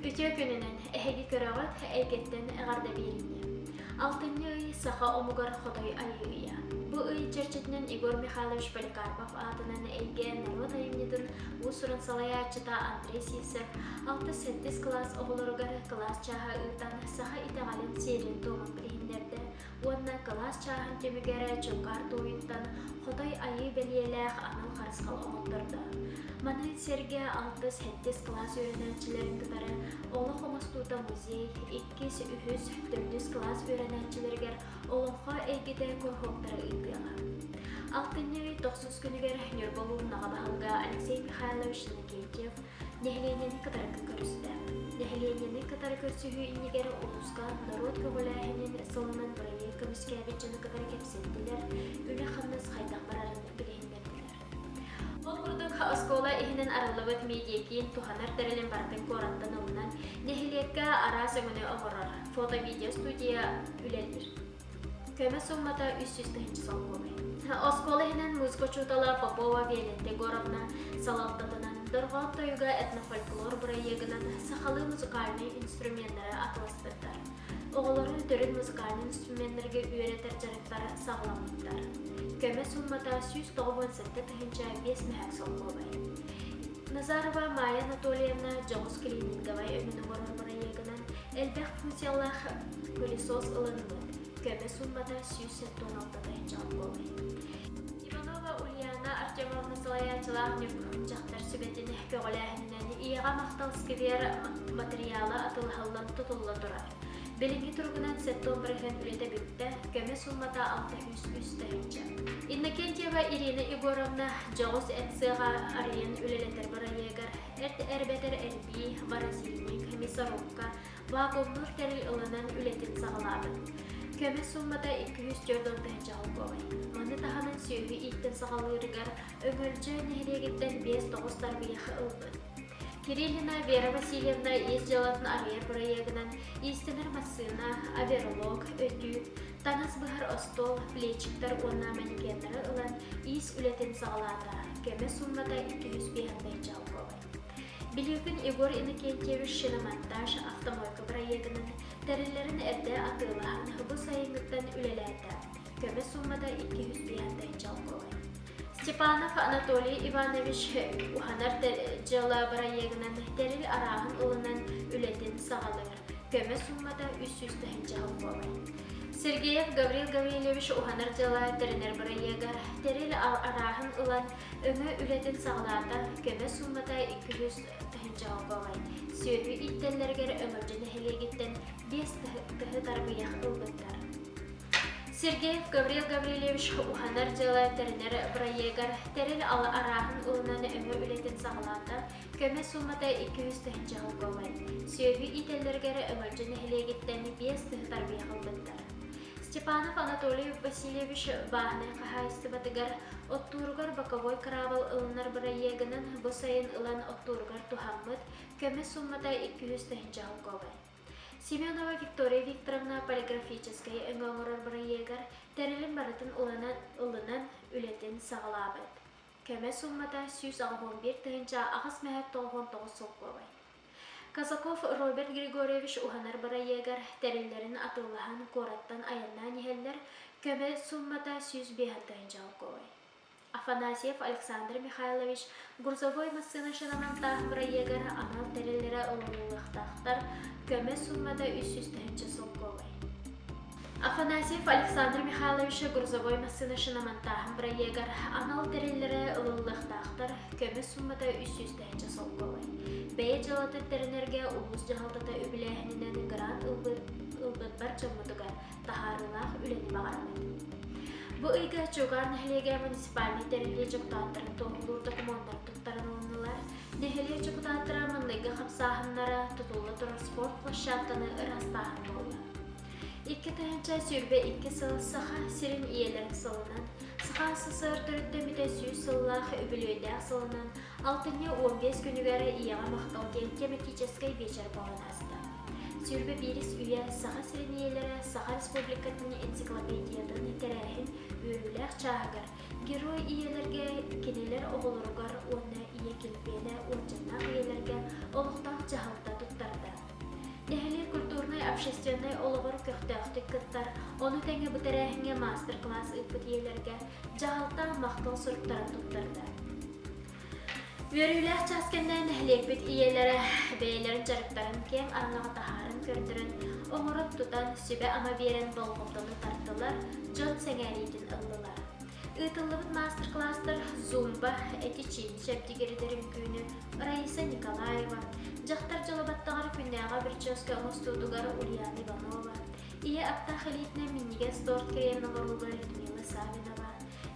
Үтүө күнүнэн эһиги көрөҕүт эйгэттэн эҕэрдэ биэриҥҥэ. Алтынньы ый саха омугар хотой айыы ыйа. Бу ый чэрчитинэн Егор Михайлович Поликарпов аатынан эйгэ норуот айымньытын уус-уран салайааччыта Андрей Сивцев 60-70 кылаас оҕолоругар кылаас чааһа ыытан саха итэҕэлин сиэрин-туомун билиһиннэрдэ уонна кылаас чааһын түмүгэрэ Чуҥгаар Тууйуттан Хотой Айыы бэлиэлээх анал харысхал хомолтордоох. Маны сэргэ алтыс-сэттис кылаас үөрэнээччилэрин кытары олох оҥостуута музей, иккис, үһүс, төрдүс кылаас үөрэнээччилэригэр олоҥхо эйгэтэ куруһуоктары ыытыаҕа. Алтынньы тохсус күнүгэр Ньурбалыын Наҕа баһылыга Алексей Михайлович Никитев Нэһилиэнньэни кытары көрүстэ. Нэһилиэнньэни кытары көрсүһүү иннигэр улууска норуот көҕүлээһинин сылынан бырайыак көмүскээбит дьону кытары кэпсэттилэр, үлэ-хамнас хайдах барарын билиһиннэрдилэр. Ол курдук, оскуола иһинэн арыллыбыт медиакиин туһанар тэрилин барытын куораттан ылынан, нэһилиэккэ араас өҥөнү оҥорор фото-видеостудия үлэлиир. көмө суммата үс сүүс тыһыынча солкуобай оскуола иһинэн музыка учуутала попова виолетта егоровна салалтатынан дорҕоон-тойуга этнофольклор бырайыагынан сахалыы музыкальнай инструменнары атыластыттар оҕолорун төрүт музыкальнай инструменнэргэ үөрэтэр дьарыктар саҕаламмыттар көмө суммата сүүс тоҕус уон сэттэ тыһыынча биэс мэһэк солкуобай назарова майя анатольевна дьоҕус клининговай өҥүн олорор бырайыагынан Элбэх функциялаах пылесос ылынылар. Көмө суммата сүүс тоҕус алтата чаал буолар. Иванова Ульяна Артемовна салайааччылаах ньургун дьахтар сүбэтин көҕүлээһининэн ийэҕэ махтал сквер матырыйаала атылыһаллан тутулла турар. Билинги туругунан сеттон бырыһын үлэтэ бүттэ, көмө суммата алта үс үс тыһынча. Иннокентьева Ирина Егоровна дьоҕус ЭЦ-ҕа арыйан үлэлэтэр бырайыагар Бэрт эрбэтэр эрбии Борозильнай комиссорукка вакуумнуур тэрил ылынан үлэтин саҕалаабыт. Көмө сууммата икки сүүс түөрт уон тыһыынча солкуобай. Маны таһынан сүөһү ииттэн саҕалыырыгар Өҥөлдьөө нэһилиэгиттэн биэс тоҕус тарбыйах ылбыт. Кириллина Вера Васильевна ис дьыалатын арыйар бырайыагынан иистэнэр массыына, аверлог, өтүү, таҥас баһар остуол плечиктар уонна манекеннары ылан иис үлэтин саҕалаата кэмэ сууммата икки жүз биэһиннэй чалкуабай Билигин Егор Иннокентьевич шиномонтаж автомойка проектын тэриллэрин эрдэ атыылаһан бу сайыҥҥыттан үлэлээтэ. Көмө суммата 200 биэһинтэй чалкуабай. Степанов Анатолий Иванович уһанар дьыала проегынан тэрил арааһын ылынан үлэтин саҕалыыр. көмө суумата үс сүүс тыһыынча хонг буолар. Сергеев Гаврил Гаврильевич уһанар дьыла тэринэр бырайыага тэрил арааһын ылан, өҥө үлэтин саҕалаата, көмө суумата икки жүз тыһыынча хонг буолар. Сүөдүү иттэллэригэр Өҥөлдө нэһилиэгиттэн биэс тыһы тарбыйах ылбыттар. Сергеев Гаврил Гаврильевич уһанар дьыла тэринэр бырайыагар тэрил арааһын ылынан өҥө үлэтин саҕалаата, Көмө суумата икки үс тыһыынча хонук буолар. Сүөһү иитэллэргэ эрэ Өҥөлдьө нэһилиэгиттэн биэс тыһы тарбыйа ылбыттар. Степанов Анатолиев Васильевич бааһынай хаһаайыстыбатыгар оттууругар боковой кыраабыл ылынар бырайыагынан бу сайын ылан оттууругар туһаммыт көмө суумата икки үс тыһыынча хонук буолар. Семенова Виктория Викторовна полиграфическай өҥө оҥорор бырайыагар тэрилин барытын ылынан, ылынан үлэтин саҕалаабыт. Кэмэ сууммата сүүс оҕоһун биир тыһыынча аҕыс мэһэ тоҕуһун тоҕус солкуобай. Казаков Роберт Григорьевич уһанар бырайыагар тэриллэрин атыылаһан куораттан айаннаан иһэллэр, көмө сууммата сүүс биэһэ тыһыынча солкуобай. Афанасьев Александр Михайлович грузовой массыына шинанан тааһын бырайыагар анал тэриллэрэ ылыллыахтаахтар, көмө сууммата үс сүүс тыһыынча солкуобай. Афанасьев Александр Михайловича грузовой массыынашынамантааһын бырайыагар анал тэриллэрэ ылыллыахтаахтар, көмө сууммата үс сүүстэһинчэ солко ылай. Бэйэ дьыалата тэринэргэ улуус дьаһалтата үбүлээһининэн грант ылбыт дьоммутугар таһаарыылаах үлэни баҕарабыт. Бу ыйга Чуган нэһилиэгэ муниципальнай тэриллии дьокутааттарын туоһулуур докумуоннар туттарылыннылар. Нэһилиэк дьокутааттара маҥнайгы хамсааһыннара, тутулла турар спорт площадканы ыраастааһын туһунан. Икки тыһыынча сүүрбэ икки сыл Саха сирин ийэлэрэ сылынан, Саха СССР төрүттэммитэ сүүс сыллаах үбүлүөйдээх сылынан алтынньы уон биэс күнүгэр ийэҕэ махтал диэн кэмитиичэскэй биэчэр баҕан ааста. Сүүрбэ биирис үйэ Саха сирин ийэлэрэ Саха Республикатын энциклопедиятын тэрээһин үөрүүлээх чааһыгар герой ийэлэргэ, кинилэр оҕолоругар уонна ийэ килбиэнэ уончаннаах ийэлэргэ олохтоох дьаһалта туттарда. Нэһилиэк культурнай общественнай олоҕор көхтөөхтүк кыттар, ону тэҥэ бу тэрээһиҥҥэ маастар-класс ыыппыт ийэлэргэ дьаһалта махтал суруктарын туттарда. Үөрүүлээх чаас кэннэ нэһилиэкпит ийэлэрэ бэйэлэрин дьарыктарын киэҥ аҥаҕа таһааран көрдөрөн, оҥорон-тутан, сүбэ-ама биэрэн болҕомтону тартылар, дьон сэҥээриитин ыллылар. Ыытыллыбыт маастер-класстар Зумба эти-чин чэбдигирдэрин күнү Раиса Николаева, дьахтар дьоло баттаҕар күннээҕи прическа оҥостуутугар Ульяна Иванова, ийэ аптаах илиитинэн минньигэс торт кэриэн оҥоһууга Людмила Савинова,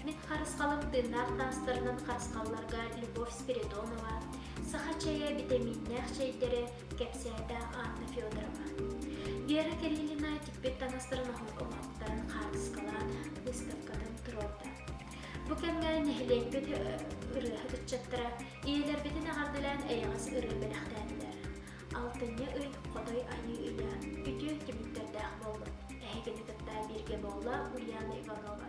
мин харысхалым тыыннаах таастарынан харысхалларга Любовь Спиридонова, саха чэйэ битэмииннээх чэйдэрэ, кэпсээтэ Анна Федорова. Вера Кириллина тикпит таҥастарын оҥоттарын хаартыскалаата, выставкатын туруорда. Бу кэмҥэ нэһилиэкпит ырыаһыт ыччаттара ийэлэрбитин эҕэрдэлээн эйэҕэс ырыа бэлэхтээтилэр. Алтынньы ый Хотой айыы үйэ үтүө түмүктэрдээх буоллун. Эһигини кытта бииргэ буолла Ульяна Иванова.